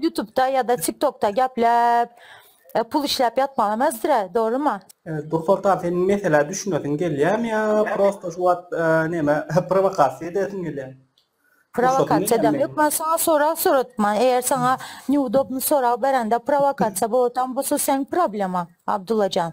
Ýutubda ýa-da tiktokda gepläp pul işläp ýatmaga mezdir-ä, dogrymy? Evet dur soltan seniň meselä düşünesiň gelýämi ýa prosta şu wagt näme prowakasiýa edesiň gelýämi? Prowakasiýa edem ýok men saňa sorag soradypman eger saňa neudobny sorag berende prowakasiýa bolatam bolsa seň problema Abdullajan.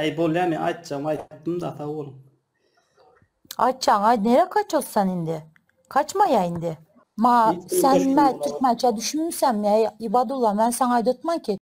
Äý bolýa men aýtjagymy aýtdym-da sag boluň. Aýtjagyňy aýt nirä kaços sen indi? Kaçmaýa indi. Maňa sen näme türkmençe düşünmüsem ýa Ibadulla men saňa aýdatmanki